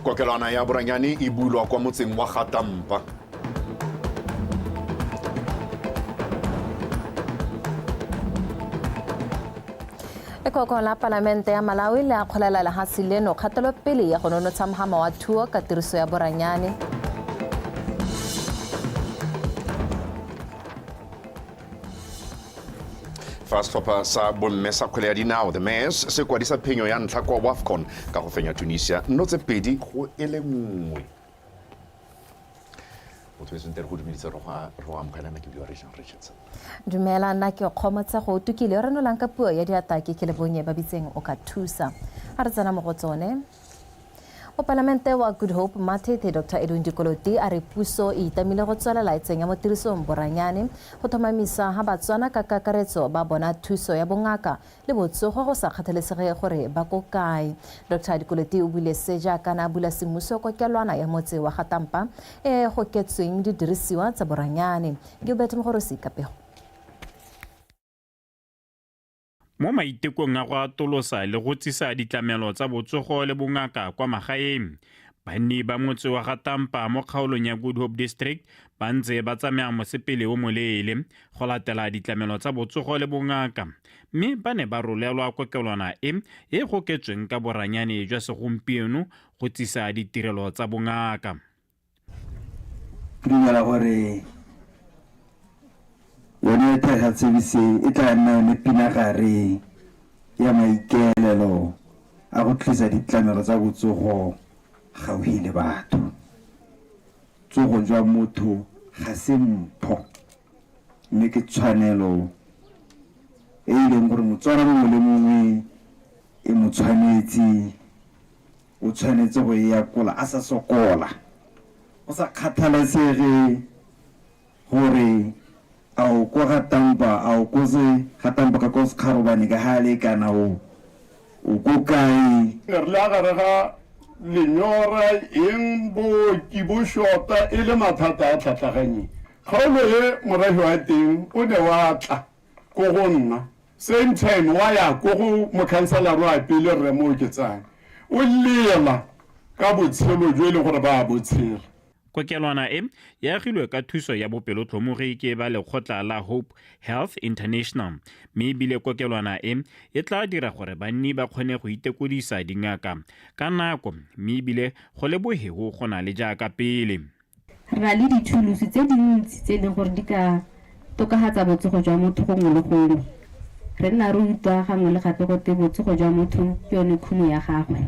kokelwana ya boranyane e bulwa kwa motseng wa gatampa lekoko la palamente ya malawi le akgolela lehatshe leno kgatelopele ya go nonotsha mohama wa thuo ka tiriso ya boranyane fa setlhopha sa bomme sa kgwele ya dinao the mass se kwadisa phenyo ya ntlha kwa wafcon ka go fenya tunisia nno tse pedi go e le nngwe motho eseng tere go dumedisa re go amogela na ke bua region richardson dumela nna ke kgomotse go tukile re nolang ka puo ya diatake ke le bonye ba bitseng o ka thusa a re tsena mo go tsone Mopalamente wa Good Hope Mathethe Dr Edwin Dikoloti a re puso e itamile go tswelela e tsenya mo tirisong boranyane go tlhomamisa ha Batswana ka kakaretso ba bona thuso ya bongaka le botsogo go sa kgathalesege gore ba ko kae. Dr Dikoloti o buile se jaaka na bula semmuso kokelwana ya motse wa Gatampa e goketsweng didirisiwa tsa boranyane. Gilbert Mogorosi ka pego. Mo maitekong a go atolosa le go tsisa ditlamelo tsa botsogo le bongaka kwa magaeng, banni ba motse wa ga Tampa mo kgaolong ya Good Hope District ba ntse ba tsamaya mosepele o moleele go latela ditlamelo tsa botsogo le bongaka mme ba ne ba rolelwa kokelwana e e goketsweng ka boranyane jwa segompieno go tsisa ditirelo tsa bongaka. ke dumela gore yone thega tsebise e tla nna yone pinagare ya maikaelelo a go tlisa ditlamelo tsa botsogo gaufi le batho tsogo jwa motho ga se mpho mme ke tshwanelo e e leng gore motswana mongwe le mongwe e mo tshwanetse O tshwanetse go e akola a sa sokola, go sa kgathalesege gore a o ko ga Tampa, a o ko se ga Tampa ka ko Sekgarobane ka ga le kana o o ko kae. Ne re le a gare ga lenyora eng booki bo shota e le mathata a tlhatlhaganyeng. Kgaolo e morafe wa teng o ne wa tla. ko go nna same time wa ya ko go mokhanselara wa pele rre mo oketsang o lela ka botshelo jo e leng gore ba a botshela Kokelwana e e agilwe ka thuso ya bopelotlhomogi ke ba lekgotla la Hope Health International mme ebile kokelwana e e tla dira gore banni ba kgone go itekodisa dingaka ka nako mme ebile go le bohego go na le jaaka pele. Re na le dithulusi tse dintsi tse e leng gore di ka tokafatsa botsogo jwa motho gongwe le gongwe. Re nna re utlwa gangwe le gape gote botsogo jwa motho ke yone khumo ya gagwe.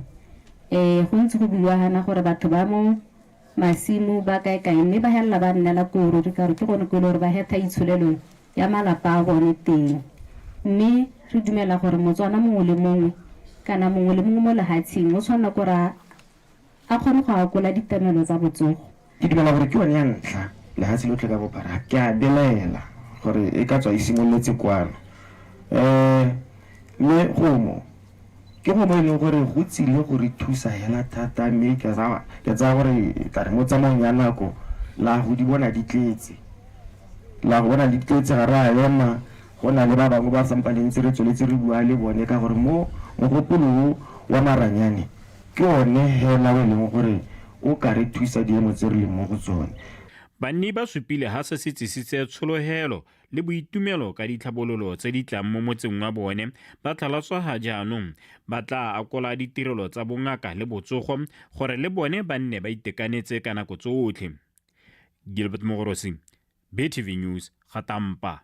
Um go ntse go buiwa gana gore batho ba mo masimo ba kae kae mme ba helela ba nnela koo ruri ka gore ke gone ko e le gore ba hetha itsholelo ya malapa a bone teng. Mme re dumela gore Motswana mongwe le mongwe kana mongwe le mongwe mo lehatsheng o tshwanela kore a A kgone go akola ditlamelo tsa botsogo. Ke dumela gore ke yone ya ntlha lehatshe lotlhe ka bophara. Ke a belaela gore e ka tswa e simololetse kwano. Ee, mme gomo, ke gomo e leng gore go tsile go re thusa hela thata mme ke a, ke tsaya gore e tla re mo tsamaong ya nako la go di bona di tletse. La go bona di tletse ga re a ema, go na le ba bangwe ba sampa le ntse re tsweletse re bua le bone ka gore mo mogopolo o wa maranyane, Ke one hela o e leng gore o ka re thusa diemo tse re leng mo go tsone. Banni ba supile ha se se tsisitse tsholohelo le boitumelo ka ditlhabololo tse di tlang mo motseng wa bone. Ba tlhalosa ha jaanong ba tlaa akola ditirelo tsa bongaka le botsogo gore le bone ba nne ba itekanetse ka nako tsotlhe. Gilbert Mogorosi, BTV News ga tampa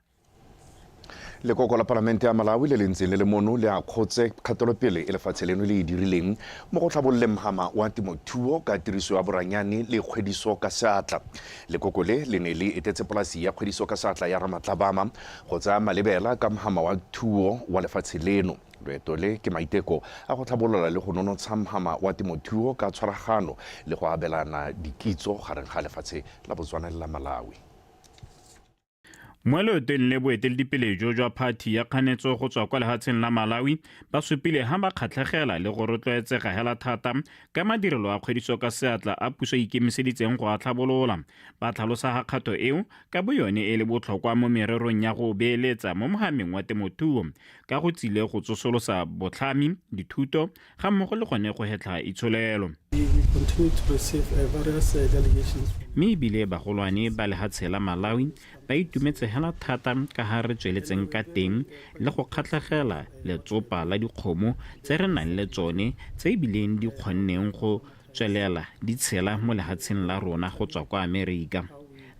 lekoko la palamente ya malawi le le ntseng le le mono le a kgotse kgatelopele e lefatshe leno le e dirileng mo go tlhabololeng mogama wa temothuo ka tiriso ya boranyane le kgwediso ka seatla lekoko le le ne le etetse polasi ya kgwediso ka seatla ya ramatlabama go tsaya malebela ka mogama wa thuo wa lefatshe leno Loeto le ke maiteko a go tlhabolola le go nonotsha mhama wa temothuo ka tshwaragano le go abelana dikitso gareng ga lefatshe la Botswana le la Malawi. Mo loetong le boeteledipele jo jwa phathi ya kganetso go tswa kwa lehatsheng la Malawi ba supile ha ba kgatlhegela le go rotloetsega hela thata ka madirelo a kgwediso ka seatla a puso e ikemiseditseng go a tlhabolola, ba tlhalosa ha kgato eo ka boyone e le botlhokwa mo mererong ya go beeletsa mo mhameng wa temothuo ka go tsile go tsosolosa botlhami, dithuto ga mmogo le gone go hetlha itsholelo. Mme ebile bagolwane ba lehatshe la Malawi ba itumetse hela thata ka ha re tsweletseng ka teng le go kgatlhegela letsopa la dikgomo tse re nang le tsone tse ebileng di kgonneng go tswelela di tshela mo lehatsheng la rona go tswa kwa Amerika.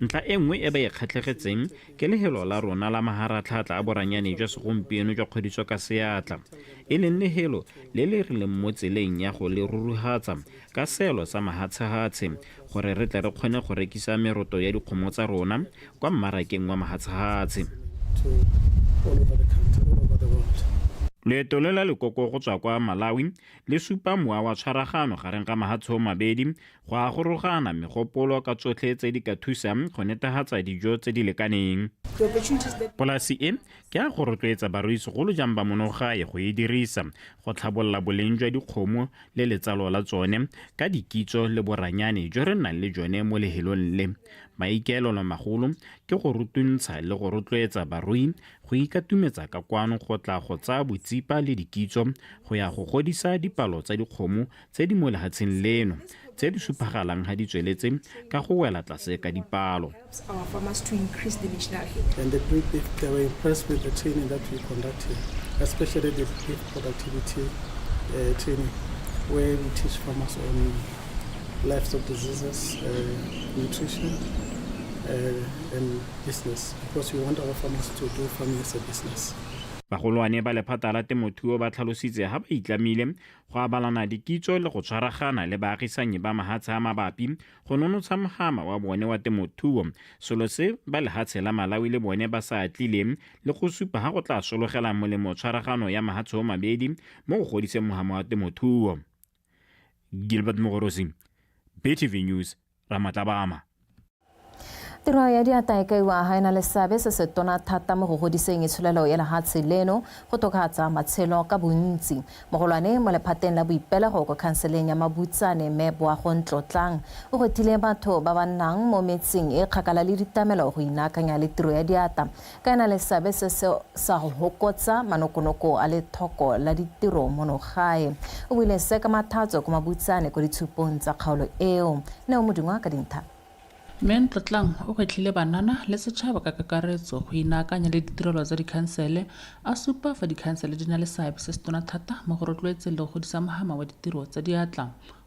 Ntlha e nngwe e ba e kgatlhegetseng ke lehelo la rona la maharatlhaatla a boranyane jwa segompieno jwa kgodiso ka seatla, e leng lehelo le le re leng mo tseleng ya go le ruruhatsa ka seelo sa mahatshehatshe gore re tle re kgone go rekisa meroto ya dikgomo tsa rona kwa mmarakeng wa mahatshehatshe. Loeto lo la lekoko go tswa kwa Malawi le supa mowa wa tshwaragano gareng ga mahatshoo mabedi go a gorogana megopolo ka tsotlhe tse di ka thusang go netehatsa dijo tse di lekaneng. Polasi e ke a go rotloetsa barui segolo jang ba monogae go e dirisa go tlhabolola boleng jwa dikgomo le letsalo la tsone ka dikitso le boranyane jo re nnang le jone mo lehelong le. Maikaelelo magolo ke go rutuntsha le go rotloetsa barui Go ikatumetsa ka kwano go tla go tsaya botsipa le dikitso go ya go godisa dipalo tsa dikgomo tse di mo lehatsheng leno, tse di suphagalang ha di tsweletse ka go wela tlase ka dipalo. Bagolwane ba lephata la temothuo ba tlhalositse ha ba itlamile go abalana dikitso le go tshwaragana le baagisanyi ba mahatshe a mabapi go nonotsha mohama wa bone wa temothuo, selo se ba lehatshe la Malawi le bone ba sa atlileng le go supa ha go tla sologelang molemo tshwaragano ya mahatshe o mabedi mo go godiseng mohama wa temothuo. Gilbert Mogorosi, BTV News, Ramatlabama. Tiro ya diata e kaiwa ga ena le seabe se se tona thata mo go godiseng itsholelo ya lehatshe leno, go tokahatsa matshelo ka bontsi, mogolwane mo lephateng la boipelego ko khanseleng ya Mabutsane, Mme Boago Ntlotlang, o gwetlhile batho ba ba nnang mo metseng e kgakala le ditamelo go inaakanya le tiro ya diata Ka na le seabe se se sa go hokotsa manokonoko a lethoko la ditiro mono gae. O buile se ka mathatso ko Mabutsane ko ditshupong tsa kgaolo eo. Neo Modungwa ka dintlha. Mme Ntlotlang o gwetlhile banana le setšhaba ka kakaretso go inaakanya le ditirelo tsa dikhansele, a supa fa dikhansele di na le seabe se se tona thata mo go rotloetseng le go godisa mohama wa ditiro tsa diatla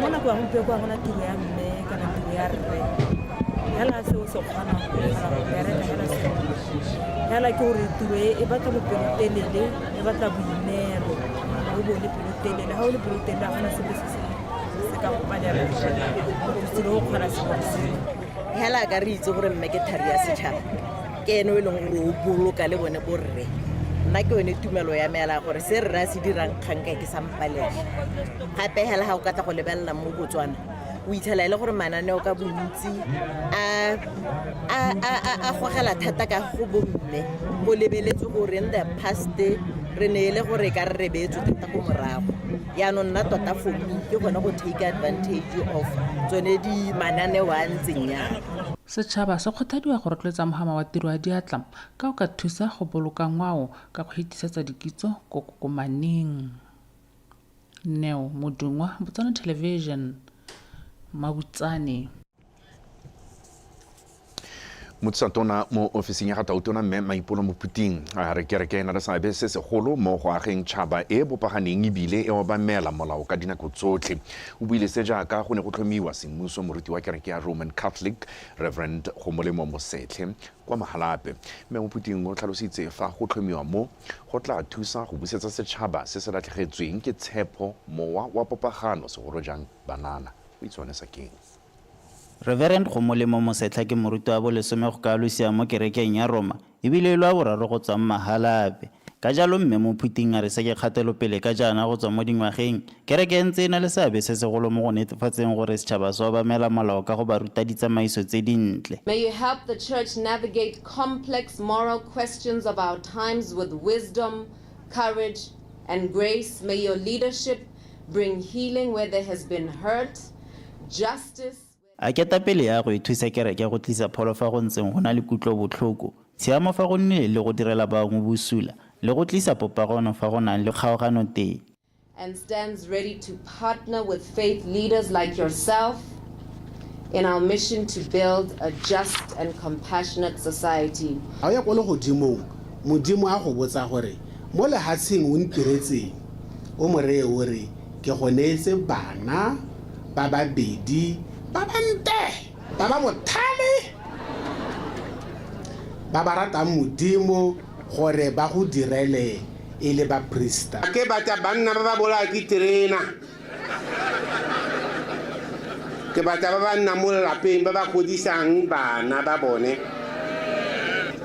mo nako ya gompieko ga gona tiro ya mme kana tiro ya rre fela se o se kgonang go bereka fela se fela ke gore tiro e, e batla bopelotelele e batla boineelo o bo le pelotelele ga o le pelotelele ga gona sepe se se ka go palela selo o kgona sengwe le sengwe fela ka re itse gore mme ke thari ya setšhaba ke ene o e leng gore o boloka le bone borre nna ke yone tumelo ya meela gore se rre a se dirang kgang kae ke sa mo balege gape hela ga o ka tla go lebelela mo botswana o itlhela e le gore mananeo ka bontsi a gogela thata ka go bomme o lebeletse gore in the past re ne e le gore ka re rebetse thata ko morago yaanong nna tota for me ke gone go take advantage of tsone di mananeo a ntseng yana Setšhaba se kgothadiwa go rotloetsa mogama wa tiro ya diatla ka o ka thusa go boloka ngwao ka go hitisetsa dikitso ko kokomaneng neo modungwa botswana television mabutsane motsatona mo ofising ya ga tautona mme maipolo mophuting a re kereke e na le seabe se segolo mo go ageng tšhaba e bopaganeng ebile e obamela molao ka dinako tsotlhe o buile se jaaka go ne go tlhomiwa semmuso moruti wa kereke ya roman catholic reverend go molemo mosetlhe kwa Mahalape. Mme Mophuthing o tlhalositse fa go tlhomiwa mo, go tla thusa go busetsa setšhaba se se latlhegetsweng ke tshepo mowa wa popagano segolo jang banana. O itshwanesa keng? Reverend Gomolemo Mosetlha ke moruti wa bolesome go ka losea mo kerekeng ya Roma e bile e le wa boraro go tswa mo Mahalape. Ka jalo Mme Mophuthing a re se ke kgatelopele ka jaana go tswa mo dingwageng, kereke e ntse e na le seabe se segolo mo go netefatseng gore setšhaba se obamela molao ka go ba ruta ditsamaiso tse dintle. May you help the Church navigate complex moral questions of our times with wisdom, courage, and grace. May your leadership bring healing where there has been hurt, justice, A ketapele ya go e thusa kereke go tlisa pholo fa go ntseng go na le kutlobotlhoko, tshiamo fa go nnileng le go direla bangwe bosula, le go tlisa popagono fa go nang le kgaogano teng. and stands ready to partner with faith leaders like yourself in our mission to build a just and compassionate society. A o ya ko legodimong, Modimo a go botsa gore, Mo lehatsheng o ntiretseng? O mo reye o re, Ke go neetse bana ba babedi ba ba nte, ba ba bothale, ba ba ratang Modimo gore ba go direle e le baprista. Ke batla banna ba ba bolaya ke terena. Ke batla ba ba nnang mo lelapeng, ba ba godisang bana ba bone.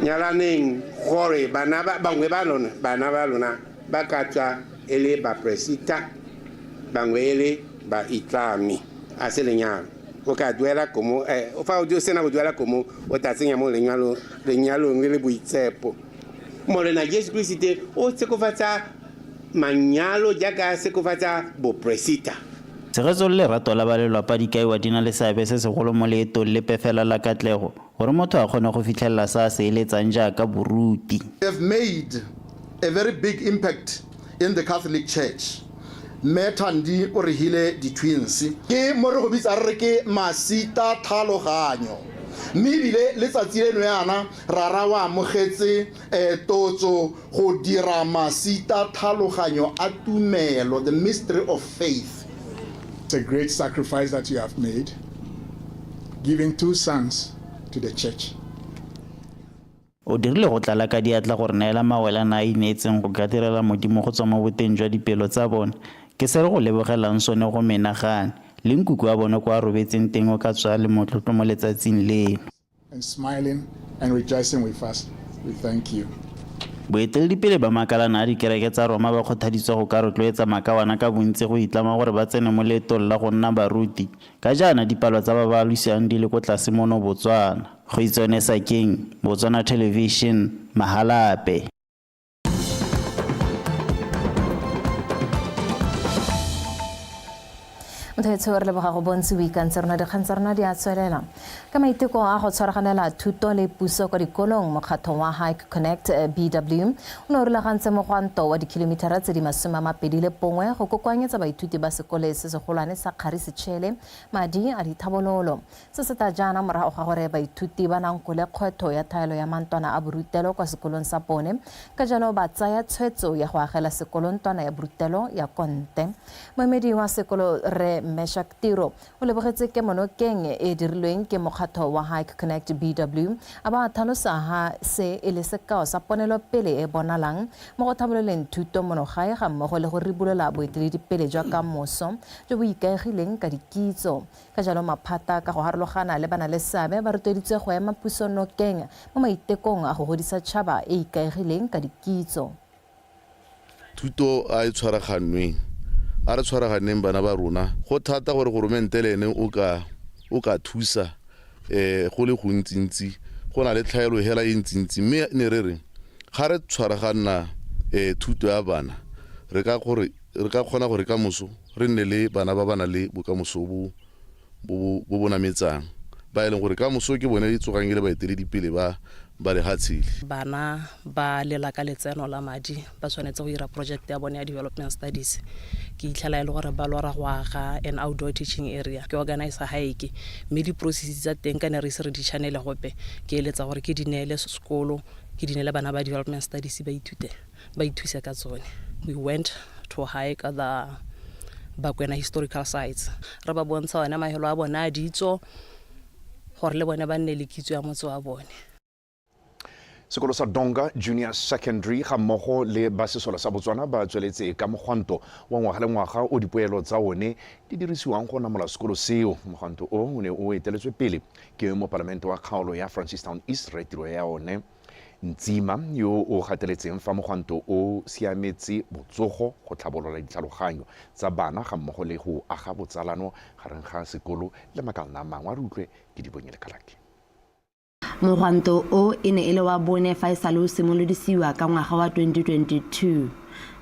Nyalaneng gore bana bangwe ba lona, bana ba lona ba ka tswa e le baperesita bangwe e le baitlami a se lenyalo o ka duela komo um fa o sena go duela komo o tla tsenya mo lenyalong le le boitsepo morena jesu keresete o sekofatsa manyalo jaaka a sekofatsa boperesita Tshegetso le lerato la ba lelwapa di kaiwa di na le seabe se segolo mo leetong lepe fela la katlego. Gore motho a kgone go fitlhelela se a se eletsang jaaka boruti. have made a very big impact in the Catholic Church. Mme Thandi o regile di-twins. Ke mo re go bitsa re re ke Masita Thaloganyo mme ebile letsatsi leno yana rara o amogetse Qetotso, Go dira masita thaloganyo a tumelo, the mystery of faith. It's a great sacrifice that you have made, giving two sons to the church. O dirile go tlala ka diatla go re neela mawele a na a ineetseng go ka direla Modimo go tswa mo boteng jwa dipelo tsa bone. Ke se re go lebogelang sone go menagane, le nkuku wa bone ko a robetseng teng o ka tswa a le motlotlo mo letsatsing leno. Boeteledipele ba makalana a dikereke tsa Roma ba kgothaditswe go ka rotloetsa makawana ka bontsi go itlama gore ba tsene mo leetong la go nna baruti. Ka jaana dipalo tsa ba ba alosiwang di le ko tlase mono Botswana. Kgoitsone Sakeng, Botswana Television, Mahalape. mothaetsho re leboga go bontse boikantse rona dikgang tsa rona di a tswelela ka maiteko a go tshwaraganela thuto le puso kwa dikolong mokgatlho wa hike connect eh, bw o ne o rulagantse mogwanto wa dikhilomitara tse di masome a mabedi le bongwe go kokoanyetsa baithuti ba sekole se segolwane sa kgari setšhele madi a dithabololo Se se tla jaana morago ga gore baithuti ba nankole kgwetho ya thaelo ya mantlwana a borutelo kwa sekolong sa bone, ka jalo ba tsaya tshwetso ya go agela sekolo ntlwana ya borutelo ya konte. Moemedi wa sekolo Rre Meshack Tiro o lebogetse kemonokeng e e dirilweng ke mokgatlho wa Hike Connect BW, a ba a tlhalosa ha se e le sekao sa ponelopele e e bonalang mo go tlhabololeng thuto mono gae ga mmogo le go ribolola boeteledipele jwa ka moso jo bo ikaegileng ka dikitso Ka jalo maphata ka go harologana le banaleseabe ba rotloeditswe go ema puso nokeng mo maitekong a go godisa tšhaba e e ikaegileng ka dikitso. Thuto a e tshwaraganweng. A re tshwaraganeng bana ba rona. Go thata gore goromente le ene o ka o ka thusa go le gontsintsi. Go na le tlhaelo hela e ntsintsi mme ne re re ga re tshwaraganna thuto ya bana re ka gore Re ka kgona gore ka moso re nne le bana ba ba nang le bokamoso bo bo bo nametsang, ba e leng gore ka moso ke bone e tsogang e le baeteledipele ba ba lehatshe le. Bana ba lela ka letseno la madi ba tshwanetse go dira project ya bone ya development studies. Ke itlhela e le gore ba lora go aga an outdoor teaching area, ke organize hike, mme di-process tsa teng ka ne re ise re di channel-e gope, ke eletsa gore ke di neele sekolo, ke di neele bana ba development studies ba ithute. ba ithusa ka tsone we went to hike the bakwena historical sites re ba bontsha one mahelo a bone a ditso gore le bone ba nne le kitso ya motse wa bone sekolo sa donga junior secondary ga mmogo le ba sesole sa botswana ba tsweletse ka mogwanto wa ngwaga le ngwaga o dipoelo tsa one di dirisiwang go namola sekolo seo mogwanto o o ne o eteletswe pele ke mopalamente wa kgaolo ya francistown east re tiro ya one Ntsima, yo o gateletseng fa mogwanto o siametse botsogo, go tlhabolola ditlhaloganyo tsa bana ga mmogo le go aga botsalano gareng ga sekolo le makalana a mangwe. A re utlwe ke Dibonye le Kalaki. Mogwanto o e ne e le wa bone fa e sale o simolodisiwa ka ngwaga wa 2022.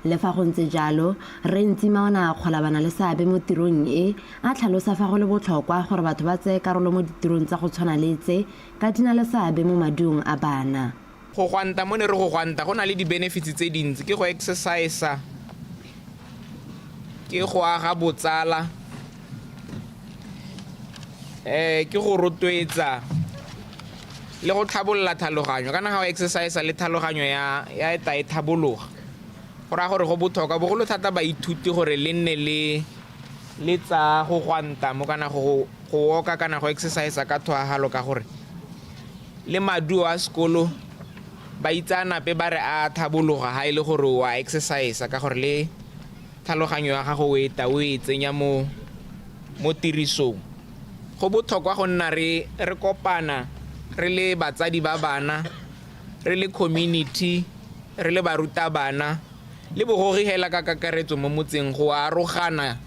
Le fa go ntse jalo, Rre Ntsima o ne a akgola ba na le seabe mo tirong e, a tlhalosa fa go le botlhokwa gore batho ba tseye karolo mo ditirong tsa go tshwana le tse Ka di na le seabe mo maduong a bana. Go gwanta, mo ne re go gwanta go na le di-benefits tse dintsi, ke go exercise-a, ke go aga botsala, um ke go rotloetsa le go tlhabolola tlhaloganyo. Kana ga o exercise-a le tlhaloganyo ya ya eta e tlhabologa, go raya gore go botlhokwa bogolo thata baithuti gore le nne le. Le tsa go gwanta mo kana go go woka kana go exercise ka thwahalo ka gore le maduo a sekolo ba itsaanape ba re a thabologa ha ile e gore wa exercise ka gore le tlhaloganyo ya gago o e ta o e tsenya mo mo tirisong go botlhokwa go nna re re kopana re le batsadi ba bana re le community re le barutabana le boruri hela ka kakaretso mo motseng go arogana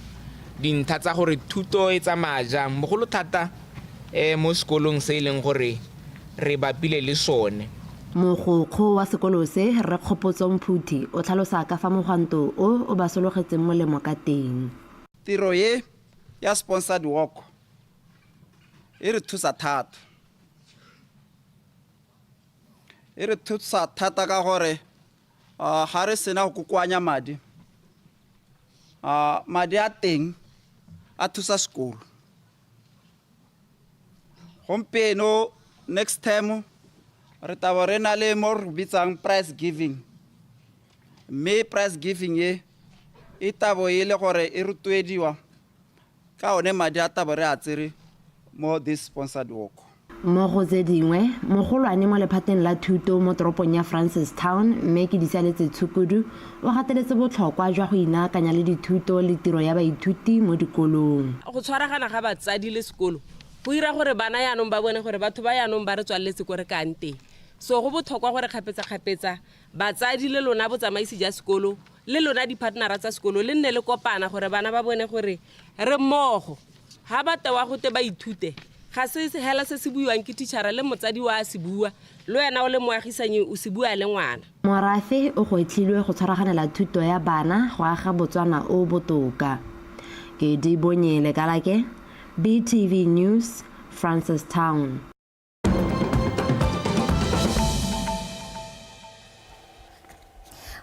dintlha tsa gore thuto e tsamaya jang bogolo thata um mo sekolong se e leng gore re bapile le sone. Mogokgo wa sekolo se, Rre Kgopotso Mphuthi, o tlhalosa ka fa mogwanto o o ba sologetseng molemo ka teng. Tiro e ya sponsored walk e re thusa thata. E re thusa thata ka gore Uh, ga re sena go kokoanya madi uh, madi a teng a thusa sekolo gompieno next time re tabo re na le mo re bitsang price giving mme price giving e e tabo e le gore e rotloediwa Ka one madi a tabo re a tsere mo this sponsored walk. Mo go tse dingwe, mogolwane mo lephateng la thuto mo toropong ya Francistown, Mme Kedisaletse Tshukudu, o gateletse botlhokwa jwa go inaakanya le dithuto le tiro ya baithuti mo dikolong. Go tshwaragana ga batsadi le sekolo go dira gore bana jaanong ba bone gore batho ba jaanong ba re tswaletse ko re kang teng. So go botlhokwa gore kgapetsa-kgapetsa Batsadi le lona botsamaisi ja sekolo le lona diphatnara tsa sekolo le nne le kopana gore bana ba bone gore re mmogo. Ga ba tewa gote ba ithute, ga se hela se se buiwang ke thitšhara le motsadi wa se bua, le wena o le moagisanyi o se bua le ngwana. Morafe o gwetlhilwe go tshwaraganela thuto ya bana go aga Botswana o botoka. Kedibonye Lekalake, BTV News, Francistown.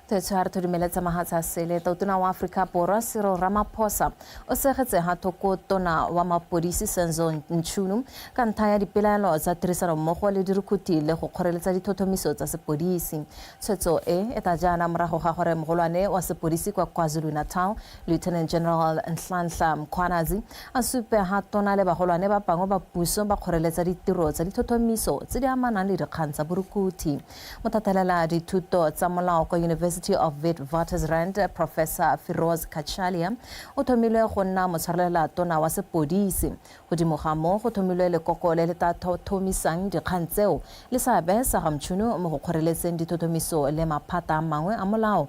tshwara thudumele tsa mahatsa sele totona wa aforika borwa sero ramaphosa o segetse ga thoko tona wa mapodisi senzo ntšhunu ka ntlha ya dipelaelo tsa tirisanommogo le dirukhuthi le go kgoreletsa dithothomiso tsa sepodisi tshwetso e e tla jaana morago ga gore mogolwane wa sepodisi kwa kwazulu-natal Lieutenant General Nhlanhla Mkhwanazi a supe ha tona le bagolwane ba bangwe ba puso ba kgoreletsa ditiro tsa dithothomiso tse di amanang le dikgang tsa borukuthi. Mothatelela dithuto tsa molao kwa University of Witwatersrand, Professor Firoz Cachalia o thomilwe go nna motshwarelela tona wa sepodisi. Godimo ga moo go thomilwe lekoko le le tla thothomisang dikgang tseo le seabe sa ga Mchunu mo go kgoreletseng dithothomiso le maphata a mangwe a molao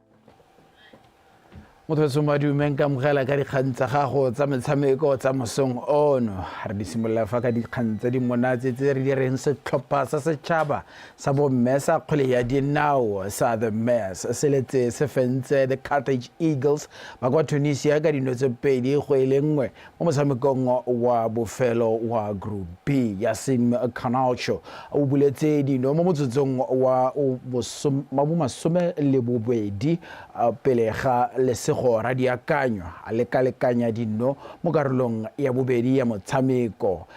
motho tshong ba dumeng ka mogela ka dikgang tsa gago tsa metshameko tsa mosong ono re di simolola fa ka dikgang tse di monatse tse re di reng setlhopha sa setšhaba sa bomme sa kgwele ya dinao sa the mass se letse se fentse the cartage eagles ba kwa tunisia ka dino tse pedi go e le nngwe Mo motshamekong wa bofelo wa Group B ya Sim Canalcho, o buletse dino mo motsotsong wa bomasome le bobedi pele ga lesego Radiakanyo a lekalekanya dino mo karolong ya bobedi ya motshameko.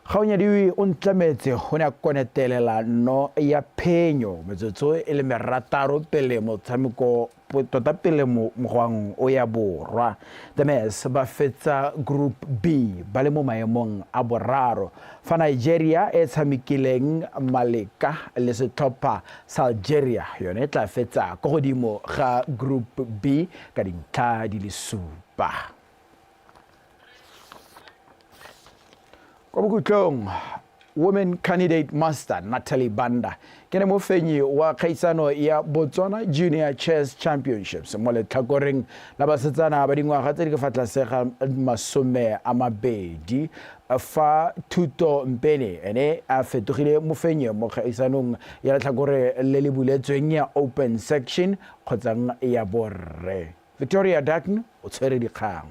Kgaonyadiwi o ntlametse o ne a konetelela no ya phenyo metsotso e le merataro pele motshameko tota pele mogwang o ya borwa. The Mess ba fetsa Group B ba le mo maemong a boraro fa Nigeria e tshamekileng maleka le setlhopha sa Algeria yone e tla fetsa ko godimo ga Group B ka dintlha di le supa. kwa bokhutlong women candidate master natalie banda ke ne mofenyi wa kgaisano ya botswana junior chess championships mo letlhakoreng la basetsana ba dingwaga tse di ka fa tlase ga masome a mabedi fa thuto mpene ene a fetogile mofenyi mo kgaisanong ya letlhakore le le buletsweng ya open section kgotsang ya borre Victoria Dutton o tshwere dikgang.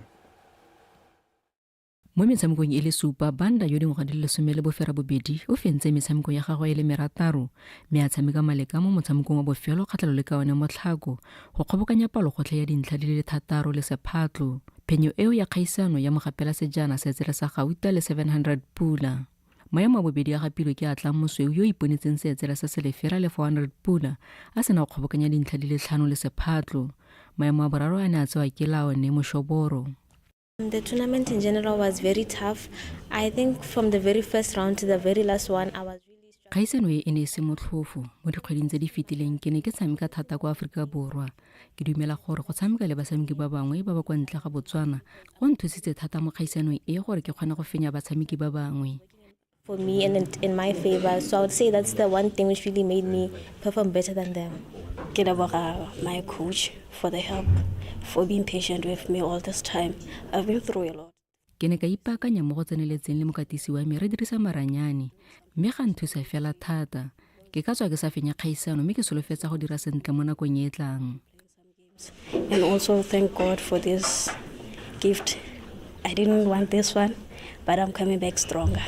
Mo metshamekong e le supa, Banda yo dingwaga di le lesome le boferabobedi o fentse metshameko ya gagwe e le merataro mme a tshameka maleka mo motshamekong wa bofelo kgatlhalo le ka one mo Tlhako go kgobokanya palogotlhe ya dintlha di le thataro le sephatlo. Phenyo eo ya kgaisano ya mogapela sejana setsele sa gauta le 700 pula. Maemo a bobedi a gapilwe ke a tlang mosweu yo o iponetseng seetsela sa selefera le 400 pula a sena go kgobokanya dintlha di le tlhano le sephatlo. Maemo a boraro a ne a tsewa ke laone moshoboro. The tournament in general was very tough. I think from the very first round to the very last one, I was really struggling. Kgaisano e e ne e se motlhofo. Mo dikgweding tse di fetileng, ke ne ke tshameka thata kwa Aforika Borwa. ke dumela gore go tshameka le batshameki ba bangwe ba ba kwa ntle ga botswana go nthusitse thata mo kgaisanong e gore ke kgone go fenya batshameki ba bangwe for me and in my favor. So I would say that's the one thing which really made me perform better than them. Get about my coach for the help, for being patient with me all this time. I've been through a lot. ke ne ka ipaakanya mo go tseneletseng le mokatisi wa me re dirisa maranyane mme ga nthusa fela thata ke ka tswa ke sa fenya kgaisano mme ke solofetsa go dira sentle mo nakong e e tlang and also thank god for this gift i didn't want this one but i'm coming back stronger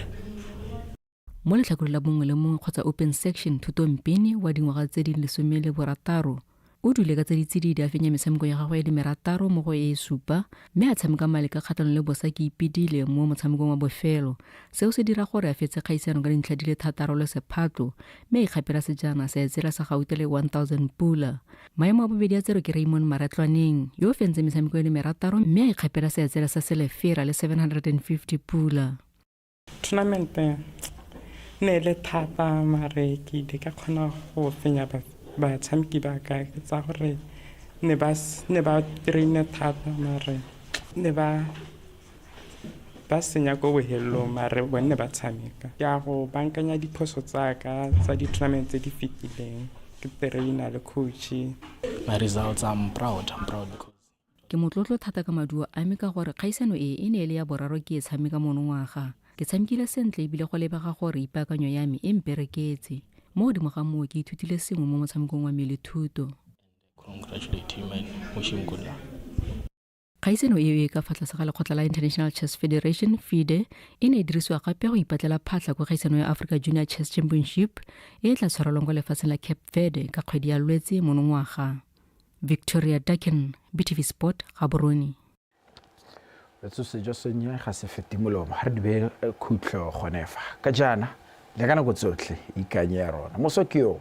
mo letlhakore la bongwe le mongwe kgotsa open section thutompene wa dingwaga tse di lesome le borataro o dule ka tse ditsididi a fenya metshameko ya gagwe ya dimerataro mo go e supa mme a tshameka male ka kgatlhanong le bosa ke ipedile mo motshamekong wa bofelo seo se dira gore a fetse kgaisano ka dintlha di le thataro le sephatlo mme a ikgapela sejana sa etsela sa gaute le 1000 pula maemo a bobedi a tsero ke raymond maratlwaneng yo o fentse metshameko ya dimerataro mme a ikgapela seetsela sa selefera le 750 pula Tournament e ne e le thata mare ke ile ka kgona go fenya batshameki ba ka ke tsa gore ne ba ne ba traine thata mare ne ba ba senya ko bohelelong mare bone ba tshameka ke a go bankanya diphoso tsa ka tsa di-tournament tse di fetileng ke traina le coach my results i'm proud i'm proud because ke motlotlo thata ka maduo a me ka gore kgaisano e e ne e le ya boraro ke e tshameka monongwaga ke tshamekile sentle ebile go lebega gore ipaakanyo ya me e mpereketse mo godimo ga moo ke ithutile sengwe mo motshamekong wa me le thuto kgaisano eo e ka fa tlase ga lekgotla la international chess federation fide e ne e dirisiwa gape go ipatlela phatlha kwa kgaisano ya africa junior chess championship e e tla tshwarelwang kwa lefatsheng la cape verde ka kgwedi ya lwetse monongwaga victoria duckin btv sport gaborone retso sejo sennye ga se fete molomo ga re dibe eh, khutlo gonefa ka jaana le ka nako tsotlhe ikanye ya rona moso ke yo